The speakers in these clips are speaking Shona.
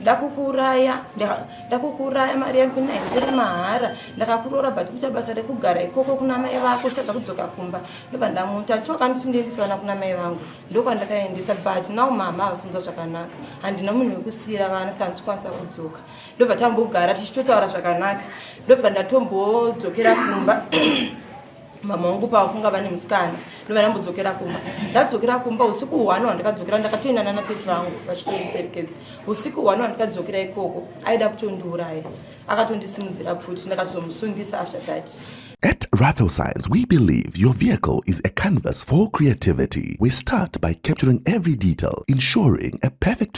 ndakukuuraya ndakukuuraya mari yangu ina henzere mahara ndakakuroora but kuita basa rekugara ikoko kuna mai vako uchitadza kudzoka kumba ndobva ndamuta toka nditi ndiendisa vana kuna mai vangu ndokwandakaendesa but now mama havasunza zvakanaka handina munhu wekusiira vana saka ndichikwanisa kudzoka ndobva tambogara tichitotaura zvakanaka ndobva ndatombodzokera kumba mama wangu pavakunga vane musikana ndovanambodzokera kumba ndadzokera kumba usiku hwani wandikadzokera ndakatoenda nana tete vangu vachitondiperekedza usiku hwani wandikadzokera ikoko aida kutondiuraya akatondisimudzira pfuti ndakazomusungisa after that At Rathel Science, we believe your vehicle is a canvas for creativity. We start by capturing every detail, ensuring a perfect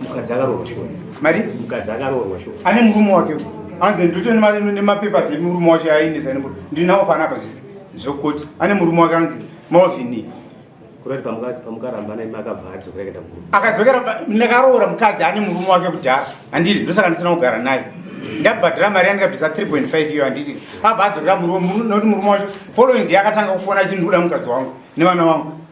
mukadzi akaroorwa shuwa mari mukadzi akaroorwa shuwa ane murume wake anzi ndito nemapepa semurume wacho aendesa nembo ndinawo panapa zvisi zvokoti ane murume wake anzi malvini kurati pamukadzi pamukaramba naye makabva adzokera kuenda murume akadzokera ndakaroora mukadzi ane murume wake kudhara handiti ndosaka ndisina kugara naye ndabhadhara mari yandikabvisa 3.5 iyo handiti abva adzokera murume nokuti murume wacho following day akatanga kufona achindikuda mukadzi wangu nevana wangu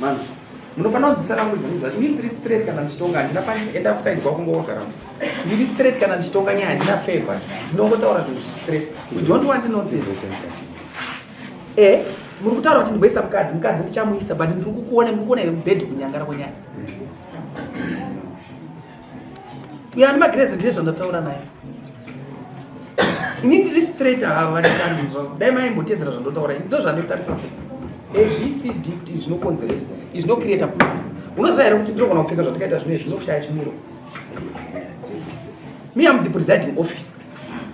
Manzi, munofanira kunzwisa rangu dzinhu dzacho. Ini ndiri straight kana ndichitonga handina panoenda kuside kwako ngoga rangu. Ndiri straight kana ndichitonga nyaya handina favor. Ndinongotaura zvinhu zviri straight. We don't want nonsense. Eh, muri kutaura kuti ndingoisa mukadzi, mukadzi ndichamuisa but ndiri kukuona, muri kuona here mubhedhi kunyangara kwenyaya. uyo ani magrezi ndie zvandataura naye ini ndiri straight ava vandikandiva dai maimbotedzera zvandotaura ini ndozvandotarisa so abcd kuti izvi zvinokonzeresa izvi zvinocreata problem unoziva here kuti ndinogona kupfeka zvandikaita zvino zvinoshaya chimiro me am the presiding office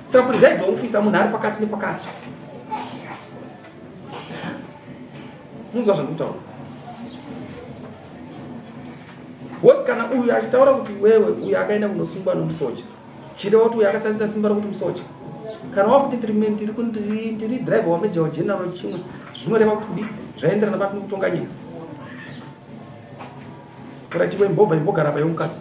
saka presiding office munhu ari pakati nepakati munzwa zvandikutaura woti kana uyu achitaura kuti wewe uyu akaenda kunosungwa nomusoja chireva kuti uyu akashandisa simba rokuti musoja kana wakuti tiri driver wamejawo general chimwe zvinoreva kuti kudi zvaenderana papi nekutonga nyika kuratiwe mbobva imbogara pa yomukadzi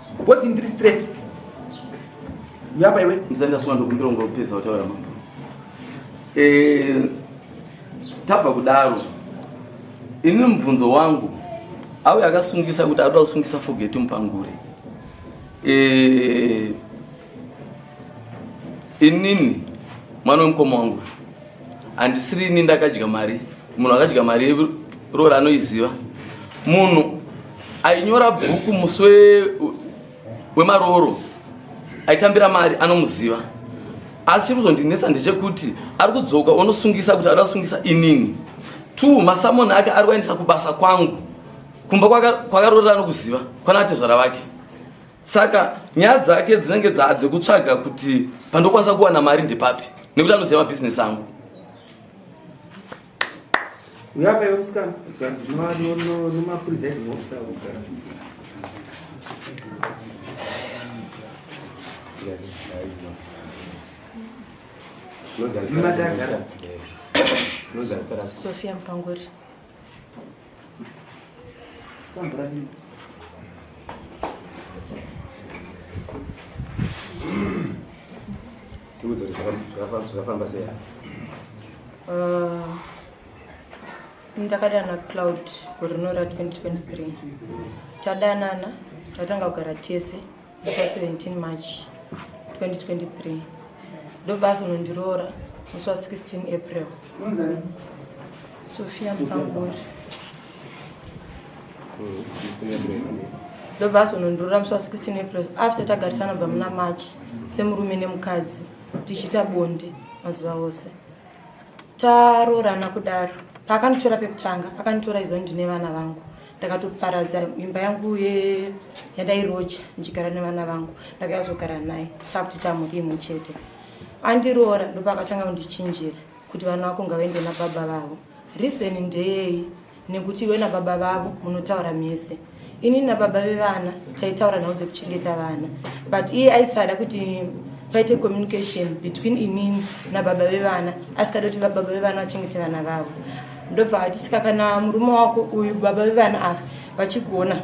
Boss ndiri straight. Uyapa iwe? Mzanda sima ndokumbira ungopedza kutaura mambo. Eh tabva kudaro. Ini mubvunzo wangu auya akasungisa kuti atoda kusungisa forget mupangure. Eh inini mwana wemukoma wangu handisiri ini ndakadya mari munhu akadya mari yeroora anoiziva munhu ainyora bhuku musi wemarooro aitambira mari anomuziva asi chiri kuzondinetsa ndechekuti ari kudzoka onosungisa kuti ari asungisa inini two masamoni ake ari kuaendesa kubasa kwangu kumba kwakaroora anokuziva kwana atezvara vake saka nyaya dzake dzinenge dzekutsvaga kuti pandokwanisa kuwana mari ndepapi nekuti anoziva mabhizinesi angu Sofia Mpanguri. Uh, ndakadanana cloud gore rinora 2023 tadanana tatanga kugara tese musi wa 17 march 2023 ndobva azonondiroora musi wa 16 april sofia mupangori ndobva azonondiroora musi wa 16 april after tagarisana bva muna march semurume nemukadzi tichiita bonde mazuva ose taroorana kudaro paakanitora pekutanga akanitora izvo ndine vana vangu ndakatoparadza imba yangu ye yandairoja ndichigara nevana vangu ndakayazogara naye takuti tamhuri imwe chete andiroora ndopakatanga kundichinjira kuti vana vako ngavaende nababa vavo reason ndeyei nekuti iwe nababa vavo munotaura mese ini nababa vevana taitaura nhau dzekuchengeta vana but iye aisada kuti paite communication between inini nababa vevana asikada kuti vababa vevana vachengete vana vavo ndobva ati saka kana murume wako uyu baba vevana ava vachigona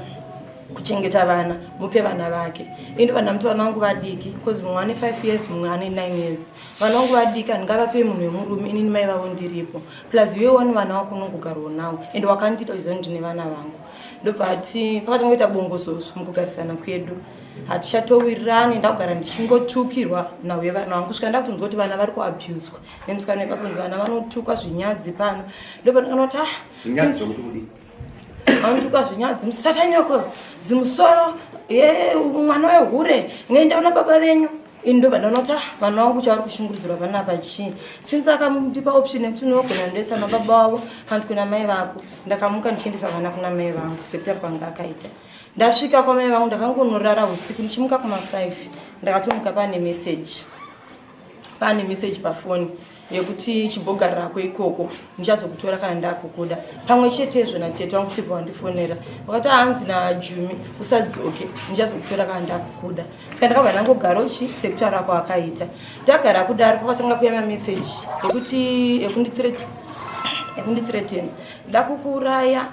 kuchengeta vana mupe vana vake ini vana muti vana vangu vadiki because mumwe ane five years mumwe ane nine years vana vangu vadiki handingavape munhu wemurume inini mai vavo ndiripo plus iwe wani vana wako unongogarwo nawo and wakandiita uchizoni ndine vana vangu ndobva ati pakati ngoita bongozoso mukugarisana kwedu hatichatowirirani ndakugara ndichingotukirwa nawe vana vangu svika ndakutonzwa kuti vana vari kuabuswa nemusikana wekasonzi vana vanotukwa zvinyadzi pano ndopanokanoti ah, vanotukwa zvinyadzi musatanyoko zimusoro mwana wehure ngaindaona baba venyu ini ndoba ndonoti ah, vana vangu chavari kushungurudzirwa panapa chii since akandipa option yekuti unogona ndoisa na baba wavo kanti kuna mai vako ndakamuka ndichiendesa vana kuna mai vangu sekutari kwanga akaita ndasvika kwamai vangu ndakangonorara usiku ndichimuka kuma 5 ndakatomuka pane message pane message pafoni yekuti chimbogarirako ikoko ndichazokutora kana ndakukuda pamwe chetezvo natete vangu chibva wandifonera vakati hanzi najumi usadzoke ndichazokutora kana ndakukuda saka ndakabva ndangogara uchi sekutaura ako akaita ndagara kudaro kwakatanga kuya mameseji ekuti ekundithreaten ekundithreaten ndakukuuraya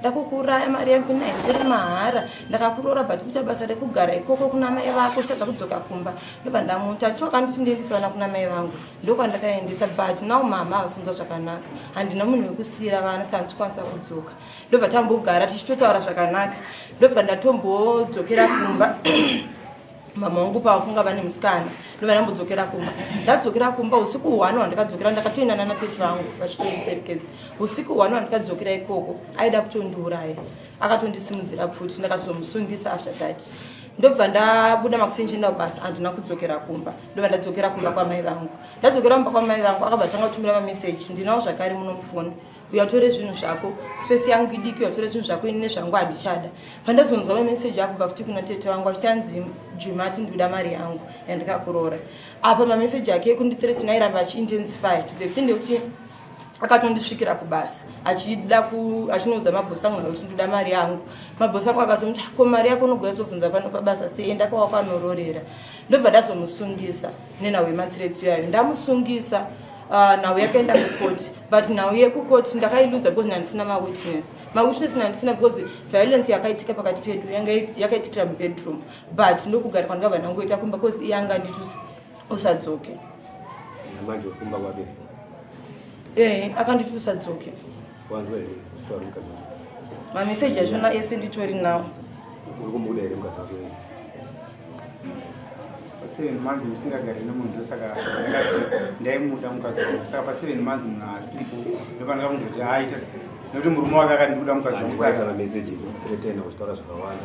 ndakukuuraya mari yangu naikuri mahara ndakakuroora but kuita basa rekugara ikoko kuna mai vako uchitadza kudzoka kumba ndobva ndamuta choka ndisindiendisa vana kuna mai vangu ndokwandakaendesa but now mama havasunza zvakanaka handina munhu wekusiira vana saka ndichikwanisa kudzoka ndobva tambogara tichitotaura zvakanaka ndobva ndatombodzokera kumba mama wangu pakunga vane musikana ndobva ndambodzokera kumba ndadzokera kumba usiku hwani wandikadzokera ndakatoendana natete vangu vachitoiperekedza usiku hwani wandikadzokera ikoko aida kutondiuraya akatondisimudzira pfuti ndakazomusungisa after that ndobva ndabuda makuseni ndichienda kubasa handina kudzokera kumba ndobva ndadzokera kumba kwamai vangu ndadzokera kumba kwamai vangu akabva tanga kutumira mameseji ndinawo zvakare muno mufoni uyatore zvinhu zvako space yangu idiki uyatore zvinhu zvako ini nezvangu handichada pandazonzwa mameseji akubva futi kuna tete vangu achanzi juma ati ndikuda mari yangu yandikakuroora apa mameseji ake ekundithreatin airamba achiintensify to the extent yekuti akatondisvikira kubasa achida achinoudza mabhosi angu kuti ndoda mari yangu mabhosi angu akatomti ah, ko mari yako unogona zobvunza pano pabasa sei enda kwawakanororera ndobva ndazomusungisa nenhau yemathreats iyayo ndamusungisa ah, nhau yakaenda kukoti but nhau yekukoti ndakailuza because ndandisina mawitness mawitness ndandisina because violence yakaitika pakati pedu yanga yakaitikira mubedroom but ndokugara kwandikabva ndangoita kumba because iyanga nditus usadzoke namanje kumba kwake eh akanditi usadzoke wanzwa here kutaura mukadzi wako mameseji achona ese nditori nawo uri kumuda here mukadzi wako yeye paseven months musingagari nemunhu ndosaka ndakati ndaimuda mukadzi wangu saka paseven months munhu asipo ndopandakakunza kuti aita nekuti murume wake akati ndikuda mukadzi wangu andikubaisa mameseji kuretena uchitaura zvakawanda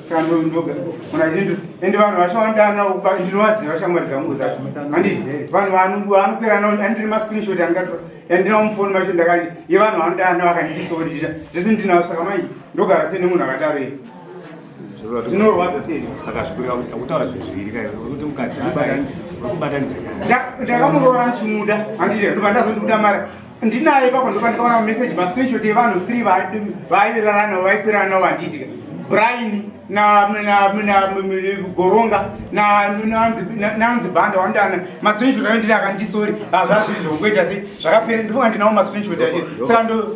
kandoga kuna ndindu ende vanhu vachawandana uba ndinovaziva shamwari dzangu zacho andizere vanhu vanungu vanokwira nao andiri mascreenshot andigatora andinawo mufoni macho ndakani ye vanhu vanodana vakandisoodira zvese ndinawo saka mai ndogara sei nemunhu akadaro iye zvinorwadza sei saka zvikurira kuti akutaura zvezviri kai kuti mukadzi abatanidza ndakamurora ndichimuda andizere ndobva ndazondikuda mara ndinaye ipapo ndoka ndikaona message ma screenshot yevanhu three vairara navo vaikwirana navo vandiitika brain na na na goronga na nanzi nanzi banda wandana ma screenshot ayo ndiri akandisori hazvazvo izvo ngoita sei zvakapera ndifo andinawo ma screenshot acho saka ndo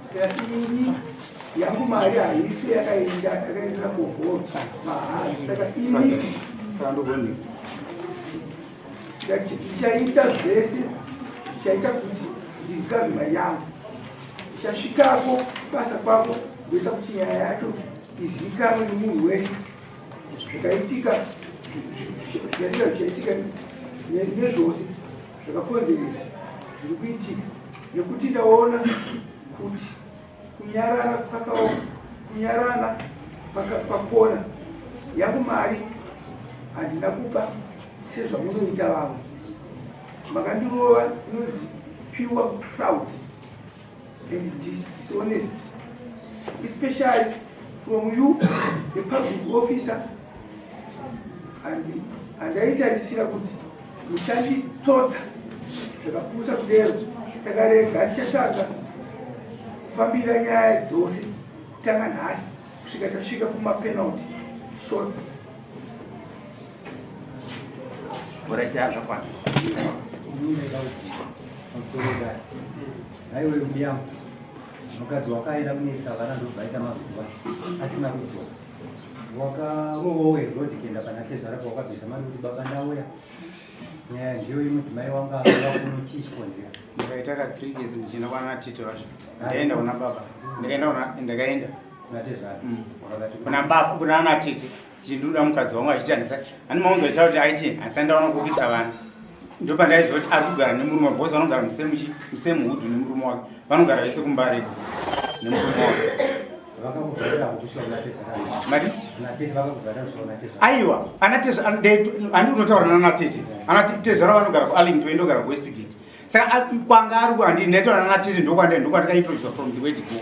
yangu mari haisi yakaenda yakaendera kuvhota mahari saka ini ndichaita zvese ndichaita kuti ndirikarima yangu ndichasvikako basa kwako ndoita kuti nyaya yacho izivikanwe nemunhu wese zvakaitika zvaitika zvichaitika nezvose zvakakonzeresa zviri kuitika nekuti ndaona kuti kunyarara kwakaoma kunyarara pakona yangu mari handina kupa sezvamunoita vamwe makandirova inozi pure fraud and dis dishonest, especially from you, the public officer, and andaitarisira kuti muchanditsotsa zvakapusa kudero saka rega ndichatanga kufambira nyaya dzose tanga nhasi kusvika tasvika kumapenalty shots Oraita zvakwana. Haiwe mbiyangu mukadzi wakaenda kunesa vana ndobvaita mazuva asina kudzoka wakarowowe rod kuenda pana tezvara pawakabvisa mari kuti baba ndauya nyaya ndiyo iyi mudzimai wangu avakuno chii chikonzera ndakaita ka three days ndichienda kwana tito vacho ndakaenda kuna baba ndakaenda kuna ndakaenda kuna tezvara kuna baba kuna ana tete chinduda mukadzi wangu achiti handisa ani maunza chavo kuti aiti handisa ndaona kukisa vana ndo pandaiziva kuti ari kugara nemurume wake bhosi vanogara musemu hudhu nemurume wake vanogara vese kumbareko nemurume wake aiwa anatezhandi unotaura nanatete anatezhara vanogara kuarlington indogara kuwestgate saka kwanga ari kuandi ndaitaura nanatete ndokwandikaitoisa from the way to go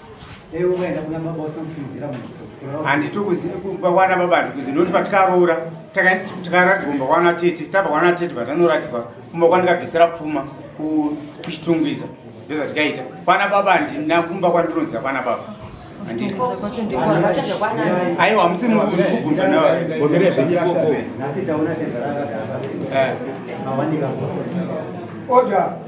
handiti kubawana baba handikuzi noti patikaroora takaratidzwa kumbawana tete tabawana tete vatanoratidzwa kumba kwandikabvisira pfuma kuchitungwiza ndozvatikaita kwana baba handina kumba kwandinoziva kwana baba aiwa hamusi mukubvunza naoda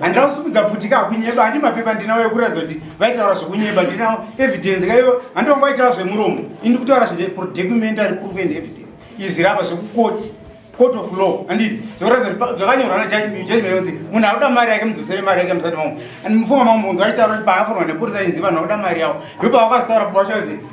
handina kusimudza pfuti ka kunyeba handi mapepa ndinawo ekuratidza kuti vaitaura zvekunyeba ndinawo evidence kaivo handi vanga vaitaura zvemuromo indi kutaura zvine documentary proof and evidence izvi rapa zvekukoti court of law anditi zvekuratidza kuti zvakanyorwa najajimeonzi munhu akuda mari yake mudzosere mari yake musati mambo and mufunga mambo unzi vachitaura kuti paaforwa nepurisa inzi vanhu vakuda mari yavo ndopavakazotaura pavachanzi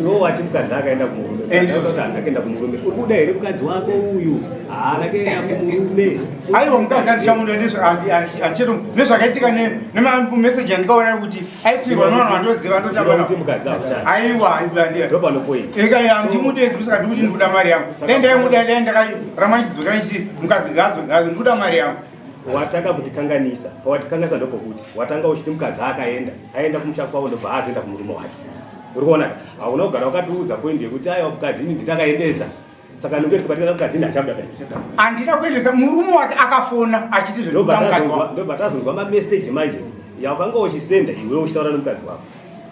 iwo wati mukadzi akaenda kumurume akaenda kumurume uri kuda here mukadzi wako uyu haana ah, kuenda kumurume aiwa mukadzi andichamuda andicheto nezvakaitika nemameseji andikaona kuti aikwirwa nevanhu vandoziva ndotambaaiwa andimude ndosaka ndikuti ndikuda mari yangu dai ndaimuda dai ndakaramanichidzokera ndichiti mukadzi ngazo ngazo ndikuda mari yangu watanga kutikanganisa pawatikanganisa ndopokuti watanga uchiti mukadzi akaenda aenda kumusha kwavo ndobva azoenda kumurume wake uri kuona hauna kugara wakatiudza poindi yekuti aiwa mukadzi ini nditakaendesa saka nongeresa patikana mukadzi ini achabuda andina kuendesa murume wake akafona achiti zvinobva tazonzwa mameseji manje yawakanga uchisenda iwe uchitaura nemukadzi wako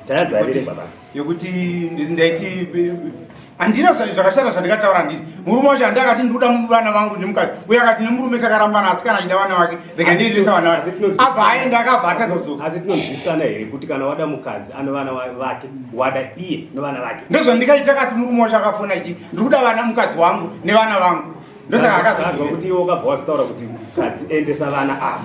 tayadzaerere babaa yekuti ndaiti handina zvakashata zvandikataura handiti murume wacho handi akati ndikuda vana vangu nemukadzi uye akati nemurume takarambana asi kana achida vana vake rega ndiendesa vana vake abva aenda akabva atadza kudzoka asi tinonzwisana here kuti kana wada mukadzi ano vana vake wada iye nevana vake ndozvandikaita kasi murume wacho akafona ichi ndikuda vana mukadzi wangu nevana vangu ndosaka akazaa kuti iwe ukabva wazvitaura kuti mukadzi endesa vana ava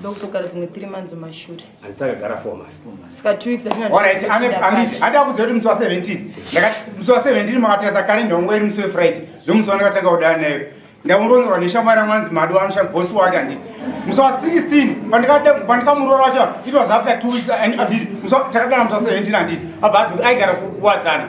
ndokuzogara dzimwe three months mashure hanzi takagara four months saka two weeks atinaarit andaa kuziva kuti musi wa seventeen musi wa seventeen makatarisa kalenda wangu iri musi wefriday ndomusi wandakatanga kudana nayo ndamuronzerwa neshamwari yangu anzi madi wanosha bosi wake anditi musi wa sixteen pandikamuroora wacho it was after two weeks and anditi takadana musi wa seventeen anditi abva azi aigara kuwadzana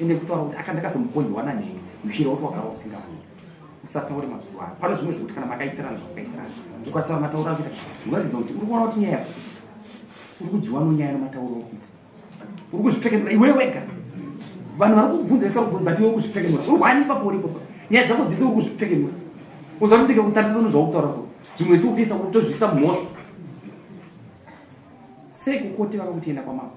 ende kutaura kuti aka ndakazomukonzi wana nhengi mishira woti wagara usingaoni usataure mazuva ano pane zvimwe zvekuti kana makaitirana zvakaitirana ukataura matauro akuita unoratidza kuti uri kuona kuti nyaya yako uri kudyiwa nonyaya nematauro okuita uri kuzvipfekenura iwe wega vanhu vari kubvunza isa kubvunza but iwe uri kuzvipfekenura uri kuhani ipapo uri ipapo nyaya dzako dzese uri kuzvipfekenura uzakutenge kutarisisa nezvaukutaura so zvimwe tiupiisa kutozvisa mhosva sei kukoti vaka kutienda kwamako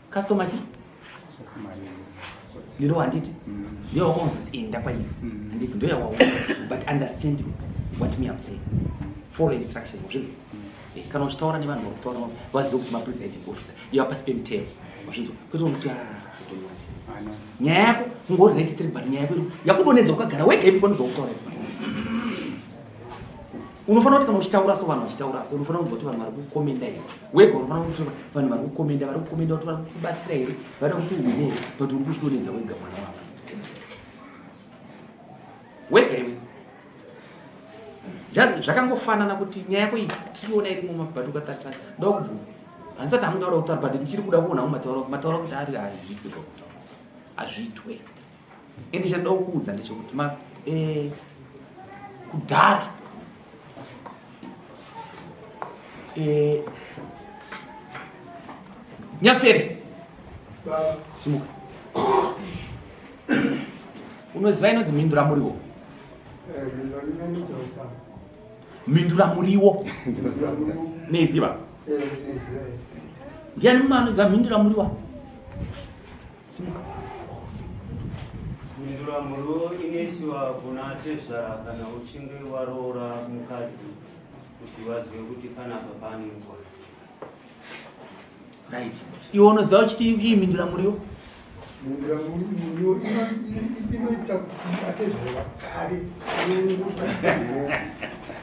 customer chi ndiro wanditi mm. ndiyo wakonzoti enda eh, kwairi mm. anditi ndo yawaona but understand what me am saying follow instruction wazvinzi mm. eh, kana uchitaura nevanhu vari kutaura navo vazive kuti mapresiding officer iva pasi pemutemo wazvinzi kwete unokuti kutonywati ah, nyaya yako ungori right three but nyaya yako yakudonedza ukagara wega ipi panozvakutaura ipi unofanira kuti kana uchitaura so vanhu vachitaura so unofanira kunzwa kuti vanhu vari kukomenda here wega unofanira kuti vanhu vari kukomenda vari kukomenda kuti vari kubatsira here vada kuti uhwine here but uri kuchidonedza wega mwana wavo wega iwe zvakangofanana kuti nyaya yako iyi tiona iri muma but ukatarisana ndoda kubvuma handisati hamundaura kutaura but ndichiri kuda kuona umataura mataura kuti ari hazviitwe zvakutaura hazviitwe Ende chandoda kukuudza ndechekuti ma eh kudhara eh Nyapfere. Baba simuka. Unoziva inonzi mhindura muriwo. Eh, mhindura muriwo. Neiziva. Eh, ndiani mumwe anoziva mhindura muriwa Mhinduramhuro inoisiwa kuna tezvara kana uchinge waroora mukadzi kuti vazive kuti panapa pane nguva. Right. Iwe unoziva uchiti iyi mhinduramuriwo? Mhinduramuriwo inoita kuti atezvara kare.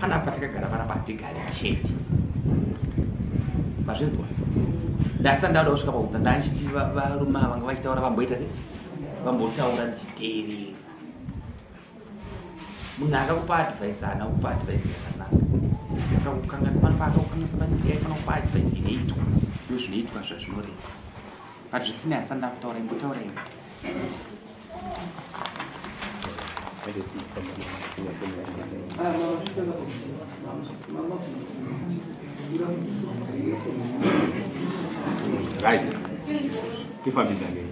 Pana patakagara panapa hatigare chete. Mazvinzwa? Ndasa ndauda kusvika pakuta ndachiti varume vanga vachitaura vamboita se vambotaura ndichiteerera. Munhu akakupa advice haana kupa advice yakanaka. Akakukanganisa panapa akakukanganisa panapa yaifana kupa advice inoitwa. Ndozvinoitwa zvazvinoreva. But zvisina yasanda kutaura imbotaura imwe. Right. Tifambidzanei.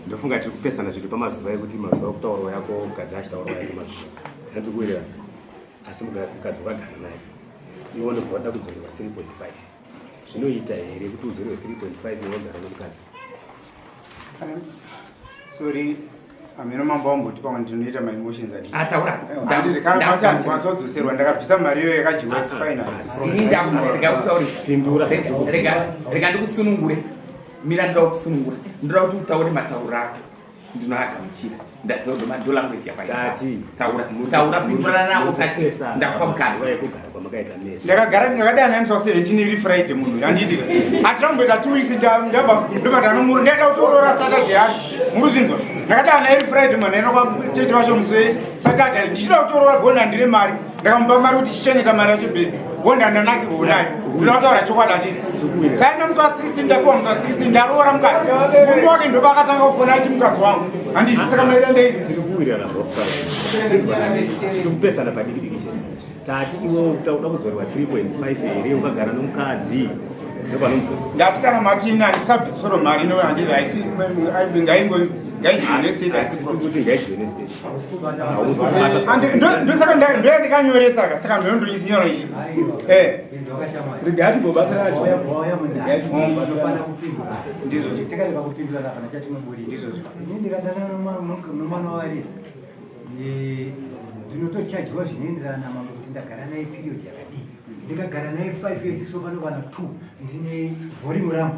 Ndofunga tiri kupesana zvinhu pamazuva ekuti mazuva okutaurwa yako mukadzi achitaurwa yako mazuva. Sina tikuwirira. Asi mukadzi wakagara naye. Iwo ndobva wada kudzorerwa 3.5. zvinoita here kuti uzorwe 3.5 inogara nomukadzi sorry ameno mambo vamboti pamwe ndinoita maemotions atauraandikwanzodzoserwa ndakabvisa mari iyo yakadyiwa finalrega ndikusunungure mira ndira kusunungura ndira kuti utaure matauro ako ndinoagamuchira ndaziva kuti mado language yakwaiaauaurausatindakupamukandakagara ndakadai naimsa 17 iri friday munhu yandiitika atiramboita two weeks ndobata anomura ndaenda kutorora saturday yacho muruzvinzwa ndakadai nairi friday manheno kwamtete wacho muse saturday ndichida kutorora bona ndire mari ndakamupa mari kuti chicheneta mari yacho bebi honda ndanakirwo nayo ndinotaura chokwadi anditi taenda musi wa 16 ndapiwa musi wa 16 ndaroora mukadzi murume wake ndoba akatanga kufona aiti mukadzi wangu anditi saka maira ndei tikupesana padikidiki tati iwe uda kudzorerwa 3.5 here ukagara nomukadzi ndati kana matini andisabvisoro mari no anditi aisi ngaingoaisikuti ngaidyiwe nestate ndosaka ndoya ndikanyoresa ka saka ndononyora ichi eh. ndinotochajwa zvinoenderana na mambo kuti ndagara naye period yakadii ndikagara naye five years sopano vana two ndine vhorimu rangu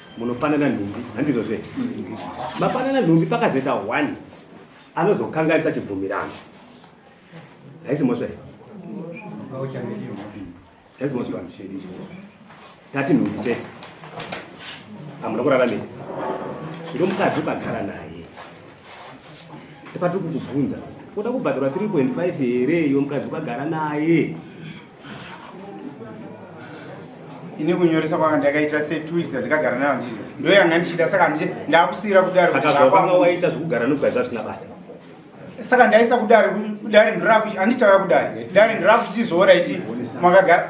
munopanana nhumbi handizvo zve mapanana nhumbi pakazeta one anozokanganisa chibvumirano haisi mhosva here haisi mhosva tati nhumbi chete hamuna kuraramisa zvino mukadzi ukagara naye ipatiri kukubvunza uda kubhadharwa 3.5 here iyo mukadzi ukagara naye ini kunyoresa kwanga ndakaita setwist ndakagara nayo ndii ndo yanga ndichida saka ndiche ndakusiyira kudaro sakazvakanga waita zvekugara nokugaiza zvisina basa saka ndaisa kudari kudari ndirakuanditava kudari kudari ndirakuchizora iti makagara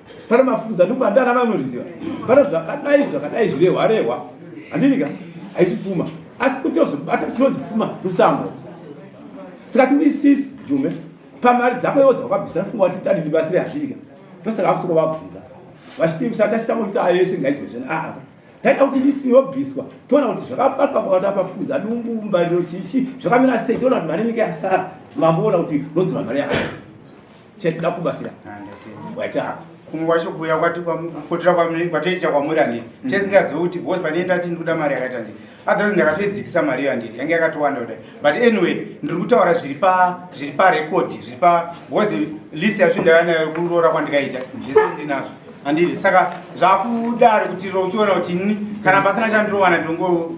pane mafuza ndikubandana vanoriziva pane zvakadai zvakadai zvirehwa rehwa handinika haisi pfuma asi kuti ozobata chinonzi pfuma rusango saka tinisisi jume pamari dzako iwo dzakabvisa funga kuti tadi ndibasire hazvirika ndosaka akusoko vabvunza vachitiusatachitanga kuti ayese ngaizvezvena aa ah, taita kuti isi yobviswa toona kuti zvakabatwa pakati apafuza dumbu mbariro chichi zvakamira sei toona kuti mari inenge yasara mamboona kuti nodzoa mari yaka chatida kubatsira waita kumwe kwacho kuuya kwati kupotera kwataita kwamuri anditi mm. tisingazive kuti bos pane ndati ndikuda mari yakaita nditi otherwise ndakatoidzikisa mari iyo anditi yange yakatowanda kudai but anyway ndiri kutaura zviri pa zviri parecord zviri pa bos list yacho ndaiva nayo kuroora kwandikaita zvese ndinazvo anditi saka zvakudari kuti uchiona kuti ini kana pasina chandirovana ndongo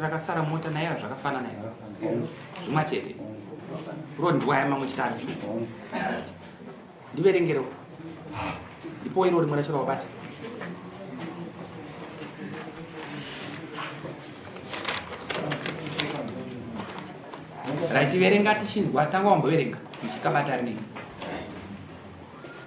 rakasara mota naye zvakafanana zvimwa chete rondiwaya mamwe chitatu ndiverengerewo ndipo iro rimwe racho rawabata right verenga tichinzwa tanga wamboverenga ndichikabata rinei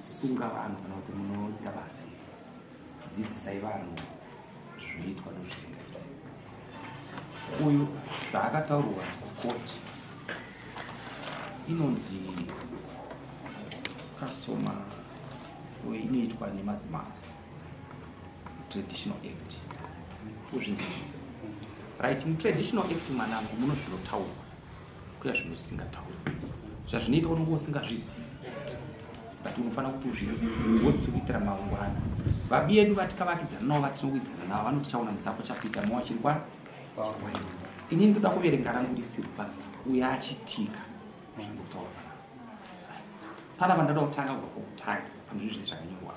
sunga vanhu kana kuti munoita basa iri dzidzisai vanhu zvinoitwa nezvisingaiti uyu zvaakataurwa kukoti inonzi customer inoitwa nemadzimai traditional act uzvinzwisisa right mutraditional act mwanangu muno zvinotaurwa kuya zvimwe zvisingatauri zvazvinoita kuti unge usingazvizivi but unofanira kuti uzvizive ngozi tiri kuitira mangwana babi yedu vatikavakidzana navo vatinowidzana navo vanoti chaona mudzako chakuita mawa chiri kwani ini ndoda kuverenga rangu risiri pano uye achitika zvingotaura pana vandoda kutanga kubva kwokutanga pane zvinhu zvii zvakanyorwa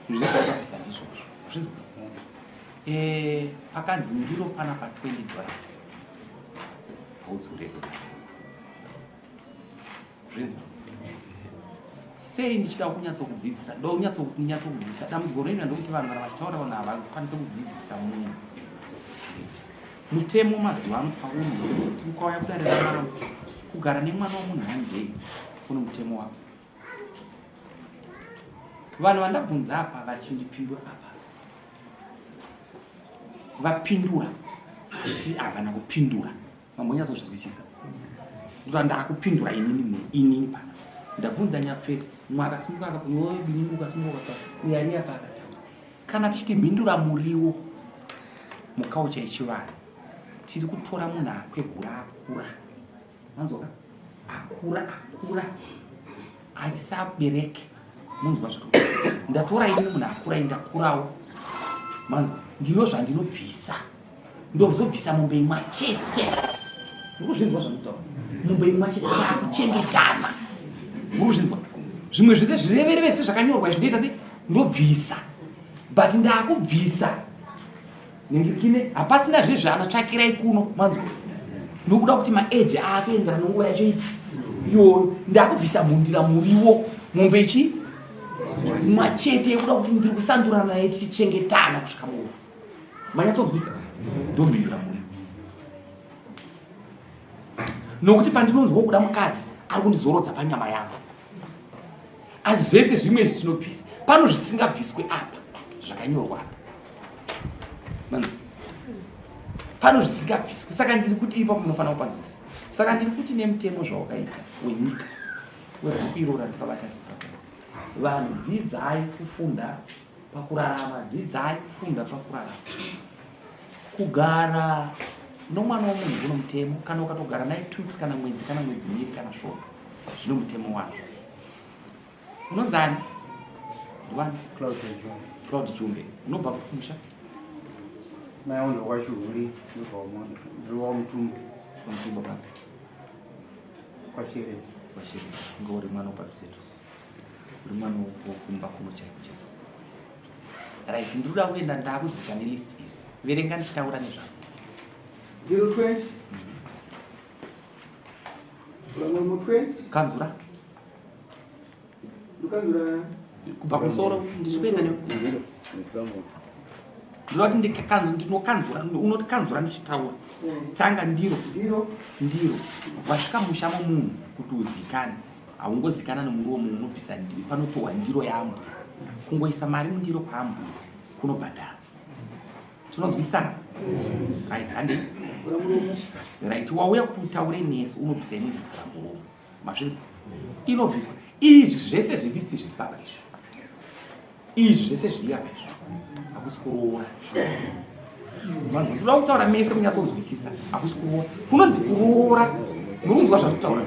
zvinhu zvakaambisa ndizvozvo zvinzi eh, pakanzi ndiro pana pa 20 dollars haudzure zvinzwa sei ndichida kunyatso kudzidzisa do nyatso nyatso kudzidzisa dambudziko rinoita ndokuti vanhu kana vachitaura vanhu havakwanise kudzidzisa munhu mutemo mazuva ano paunoti ukauya kudarira mwana kugara nemwana wemunhu handei kune mutemo wako vanhu vandabvunza apa vachindipindura apa vapindura asi havana kupindura vamwe nyatsozvinzwisisa ndota ndakupindura inini inini pana ndabvunza nyapfeka mwe akasimuka akakuyoebinini ukasimuka ukaa uyariya paakataura kana tichiti mhindura muriwo mukaucha yechivanhu tiri kutora munhu akwegura akura manzwa akura akura azisabereke munzwa zva ndatora ini munhu akura indakurawo manzwa ndino zvandinobvisa ndozobvisa mombe imwa chete urikuzvinzwa zvanditaura mombe imwa chete akuchengetana urikuzvinzwa zvimwe zvese zvirevereve se zvakanyorwa izvi ndoita se ndobvisa but ndakubvisa ningirikine hapasina zve zvaanotsvakirai kuno manzwa nokuda kuti maeji aatoenderana nguva yacho ipi iyoyo ndakubvisa mhundira muriwo mombe chi machete yekuda kuti ndiri kusandura naye tichichengetana kusvika muofu manyatsonzwisa ndomhindura muriwo nokuti pandinonzwa kuda mukadzi ari kundizorodza panyama yangu asi zvese zvimwe izvi zvinobvisa pano zvisingabviswe apa zvakanyorwa apa pano zvisingabviswe saka ndiri kuti ipa munofanira kupanzwisa saka ndiri kuti nemutemo zvawakaita wenyika webhuku irora ndikabata vanhu dzidzai kufunda pakurarama dzidzai kufunda pakurarama kugara nomwana womunhu kuno mutemo kana ukatogara naye two weeks kana mwedzi kana mwedzi miri kana shona zvino mutemo wazvo unonzi ani ndiwani cloud jumbe unobva kumusha mai wangu wachuhuri ndobva mutumbo mutumbo papi kwashere kwashere ngauri mwana upadhuze dhuze Rumano kumba kuno chaiko chaiko. Right, ndinoda kuenda ndakudzika nelist iri. Verenga ndichitaura nezvako. 020 Vamwe 20 Kanzura. Lukanzura kubva kumusoro ndichikuenda ne ndinoti ndinokanzura unoti kanzura ndichitaura tanga ndiro ndiro wasvika musha momunhu kuti uzikane haungozikana nomuromo unobvisa ndiro panotohwa ndiro yambwe kungoisa mari mundiro kwambwe kunobhadhara tinonzwisana right hande right wauya kuti utaure nesu unobvisa inonzi vhura muromo mazvinzi inobviswa izvi zvese zvirisi zviri papa izvi izvi zvese zviri apa izvi hakusi kuroora manzwa kuda kutaura mese kunyatsonzwisisa hakusi kuroora kunonzi kuroora murunzwa zvandiri kutaura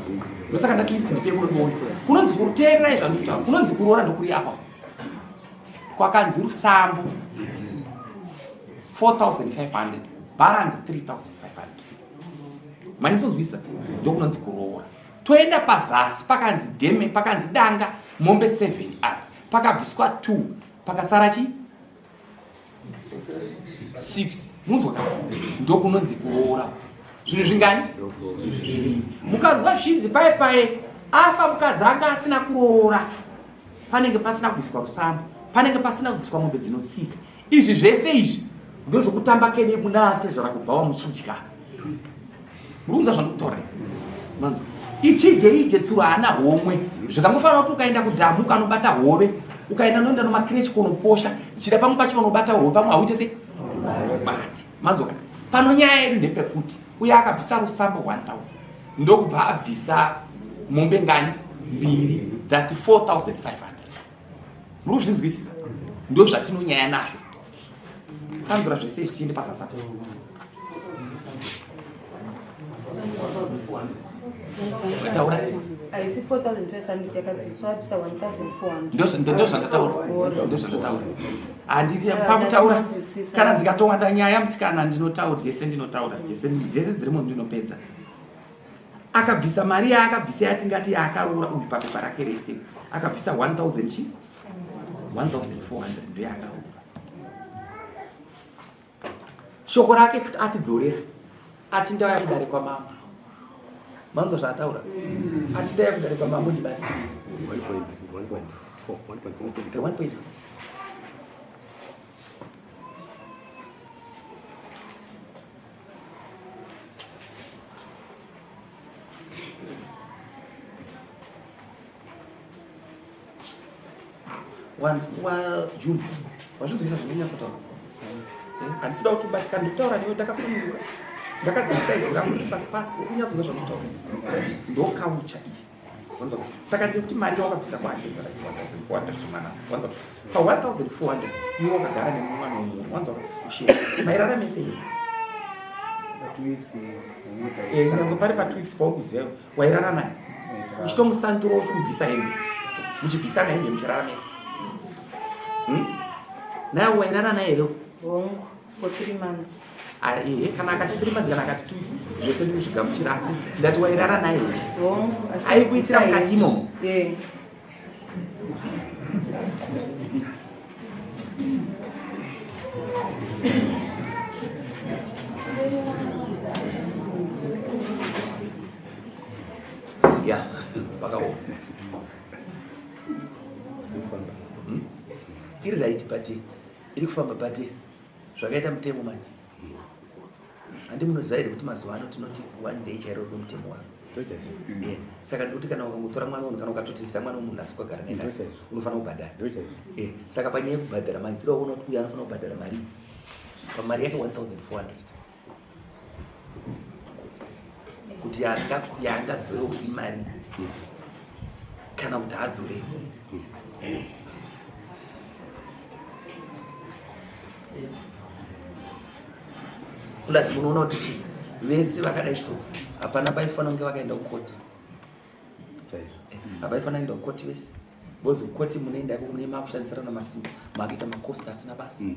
ndosaka ndati list ndipe kuno ndione kunonzi kuteererai zvandiri kutaura kunonzi kuroora ndokuri apa kwakanzi rusambo 4500 balance 3500 manyatsonzwisisa ndokunonzi kuroora toenda pazasi pakanzi deme pakanzi danga mombe 7 apa pakabviswa 2 pakasara chi 6 munzwa ka ndokunonzi kuroora zvinhu zvingani mukanzwa zvichinzi paye paye afa mukadzi anga asina kuroora panenge pasina kubviswa rusamba panenge pasina kubviswa mombe dzinotsika izvi zvese izvi ndozvokutamba kede munake zvarakubhawa muchidya murunza zvandokutora manzo ichije ije tsuro haana homwe zvikangofanira kuti ukaenda kudhamu ukanobata hove ukaenda noenda nomakireshi konoposha dzichida pamwe pacho vanobata hove pamwe hauite se bati manzoka pano nyaya yedu ndepekuti uye akabvisa rusambo 1000 ndokubva abvisa mombe ngani mbiri that 4500 muri kuzvinzwisisa ndo zvatinonyaya nazvo kanzura zvese izvi tiende pasasa ukataura haisi 4500 yakadziswa abvisa 1400 ndozvandataura ndozvandataura handiri pakutaura kana dzikatowanda nyaya musikana ndinotaura dzese ndinotaura dzese dzese dzirimo ndinopedza akabvisa mari yaakabvisa yatingati yaakaroora uyu papepa rake rese akabvisa 1000 chi 1400 ndo yaakaroora shoko rake kuti atidzorera ati ndauya kudare kwamambo manzwa zvaataura ati ndauya kudare kwamambo ndibatsire wajumbi wazvizoisa zvinonyatsotaura eh, handisi kuda kuti ubatikana ndikutaura newe ndakasunungura ndakadzivisa izwi rangu pasi pasi ukunyatsonza zvanotaura ndokaucha iyi saka tiri kuti mari yawakabvisa kwacho izara 1400 zvemwana wanzwa pa 1400 iwe wakagara nemumwana wemunhu wanzwa ushe mairarame sei eh, nyange pari pa two weeks paukuziva wairara naye uchitomusandura uchimubvisa hembe muchibvisana hembe muchirara mese hmm? naye wairara naye here for three months ehe kana akati three months kana akati two weeks zvese ndikuzvigamuchira asi ndati wairara naye aikuitira mukati imomo Yeah, pakaoma. Hmm? Iri right, but iri kufamba but zvakaita mutemo manje handi munoziva here kuti mazuva ano tinoti one day chairo rwe mutemo wavo eh, saka ndikuti kana ukangotora mwana unhu kana ukatotizisa mwana wemunhu asi ukagara naye nasi unofanira kubhadhara eh, saka panyaya yekubhadhara mari tiri waona kuti uyo anofanira kubhadhara mari pamari yake 1400 kuti yaangadzore kupi mari kana kuti adzore plus munoona kuti chii vese vakadai so hapana paifanira kunge vakaenda kukoti hapaifanira kuenda kukoti vese because kukoti munoenda iko mune makushandisirana masimba makuita makosti asina basa mm.